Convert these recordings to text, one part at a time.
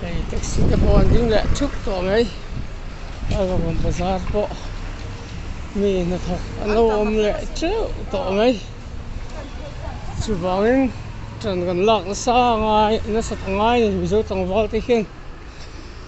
hei taxi te pawh an ding leh thup tawh mai a rawn lang bazar pawh mi hnathawk an lo awm leh teuh tawh mai chuvangin ṭan kan lak nasa ngai nasa ta ngai mizo tlangval te hian--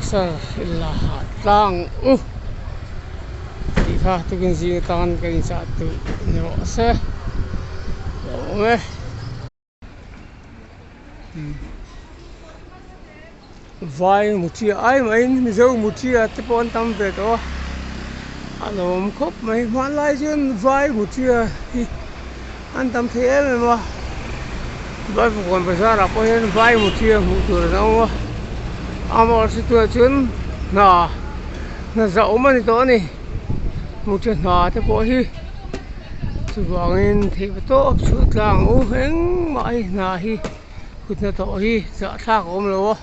Isar illa ha tlang u tih kha tukin zing atang kan inchah duh ni rawh ase lo awm e. Vai muṭia ai maiin mizo muṭia te pawh an tam ve tawh a, a lawm khawp mai hmanlai chuan vai muṭia hi. An tam thei em em a, Bawipukuan bazarah pawh hian vai mutia hmuh tur an awm a, amaherawhchu situah chuan hna hna zah awm a ni tawh a ni, mutia hna te pawh hi chuvangin theih ve tawp chhuah tlang u, engmah a hna hi kutna tawh hi zahthlak a awm lo a.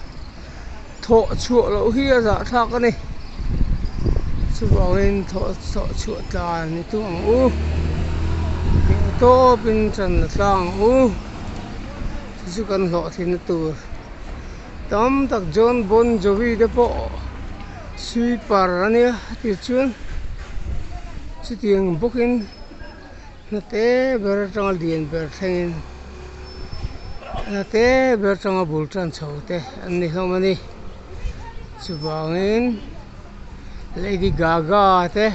thawh chhuah loh hi a zahthlak a ni chuvangin thawh thawh chhuah ta ni thung ang u hmuh tawpin channa tlang ang u chu chu kan hlawhthlina tur tam tak John Bon Jovi te pawh sweeper a nia tichuan chutiang bawkin-- Hnate ber atanga lian ber thlengin hnate ber atanga bul tan chho te an ni hlawm a ni. Chuvangin Lady Gaga te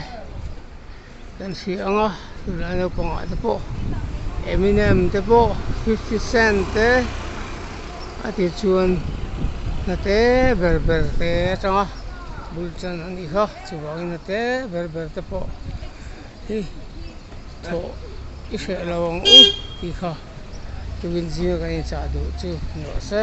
kan hria ang a, tunlai naupangah te pawh Eminem te pawh Fifty Cent te a ti chuan hnate ber ber te atanga bul tan a ni hlawm a, chuvangin hnate ber ber te pawh-- Hi thawh i hreh lo ang u tih kha tuin zinga kan inchah duh chu ni awh se.